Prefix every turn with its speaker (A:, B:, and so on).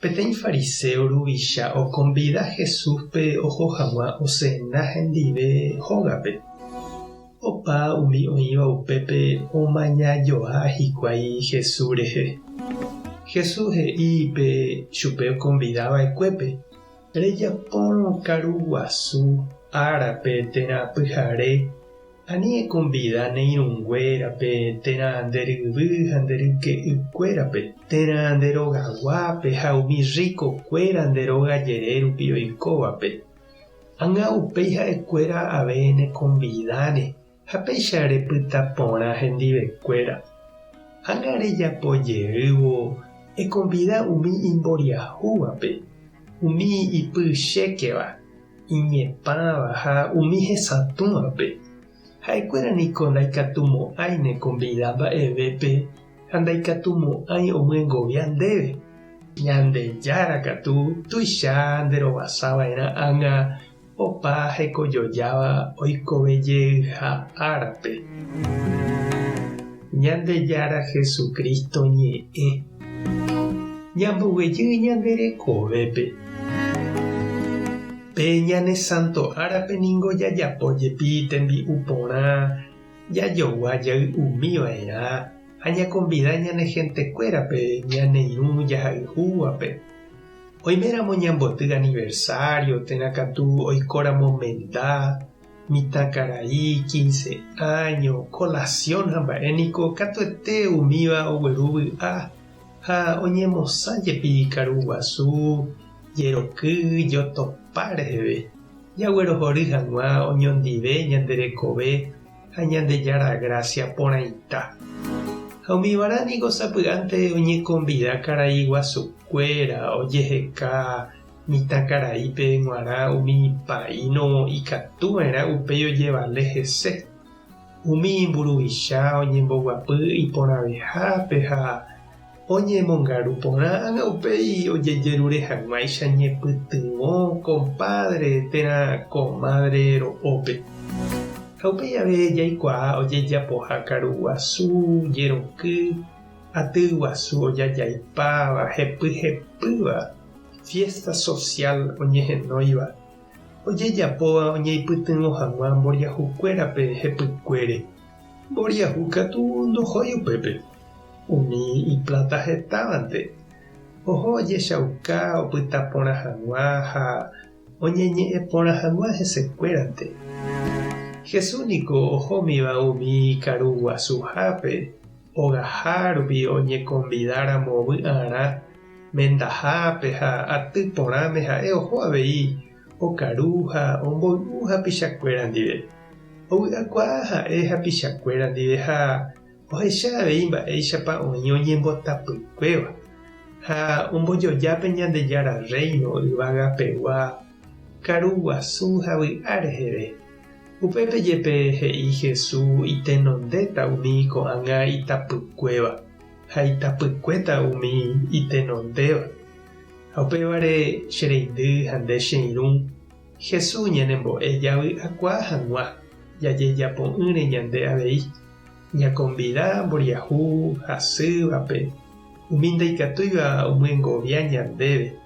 A: Peteĩ fariséo ruvicha okonvida Jesúspe oho hag̃ua osena hendive hógape. Opa umi oĩva upépe omaña joa hikuái Jesús rehe. Jesús he'i pe chupe okonvida va'ekuépe, Rejapórõ karu guasu árape térã pyhare Ani ekonvida ne irũnguérape, térã nde ryvy ha nde ryke'ykuérape, térã nde rogaguápe ha umi rrikokuéra nde róga jere rupi oikóvape. Ãnga upéi ha'ekuéra ave nekonvidáne ha péicha repyta porã hendivekuéra. Ãnga rejapo jeývo ekonvida umi imboriahúvape, umi ipy chékeva, iñepãva ha umi hesatũvape, ha'ekuéra niko ndaikatumo'ãi nekonvida mba'evépe ha ndaikatumo'ãi omyengovia ndéve. Ñandejára katu tuicha nderovasava'erã ág̃a opa hekojojáva oikovejeyha árape. Ñandejára Jesucristo ñe'ẽ. Ñamboguejy ñande rekovépe. Pe ñane santo árape ningo jajapo jepi tembi'u porã, jajogua jay umi va'erã ha ñakonvida ñane hentekuérape ñaneirũ jahayhúvape. Oiméramo ñamboty aniversario térã katu oikóramo menda, Mitãkarai, quince áño, colación ha mba'e niko katuete umíva ogueru vy'a ha oñemosã jepi karu guasu, jeroky, jotopa reheve. Jaguerohory hag̃ua oñondive ñande rekove ha Ñandejára gracia porãita. Ha umívarã niko sapy'ánte oñekonvida karai guasukuéra ojeheka Mitãkaraípe g̃uarã umi paíno ikatu va'erã upéi ojevale hese. Umi mburuvicha oñemboguapy iporãvehápe ha oñemongaru porã ág̃a upéi ojejerure hag̃uáicha ñepytyvõ kompádre térã komádre ro'ópe. Ha upéi jave jaikuaa ojejapoha karu guasu, jeroky, aty guasu ojajaipáva, hepyhepýva. Fiésta sosiál oñehenóiva ojejapóva oñeipytyvõ hag̃ua mboriahukuérape hepykuére. Mboriahu katu ndohói upépe. Umi ipláta hetávante oho ojechauka opyta porã hag̃ua ha oñeñe'ẽ porã hag̃ua hesekuérante. Jesús niko ohómiva umi ikaru guasuhápe ogaha rupi oñekonvidáramo vy'arã mendahápe ha aty porãme ha'e oho avei okaru ha omboy'u hapichakuéra ndive. Ovy'akuaa ha'e hapichakuéra ndive ha ohecha avei mba'éichapa oĩ oñembotapykuéva ha ombojoja pe Ñandejára Rréino yvagapegua karu guasu ha vy'a reheve. Upépe jepe he'i Jesús itenondéta umi ko'ág̃a itapykuéva. ha itapykuéta umi itenondéva. Ha upévare che reindy ha nde che irũ, Jesús ñanembo'e javy'akuaa hag̃ua jajejapo'ỹre ñande avei, ñakonvida mboriahu hasývape umi ndaikatúiva omyengovia ñandéve.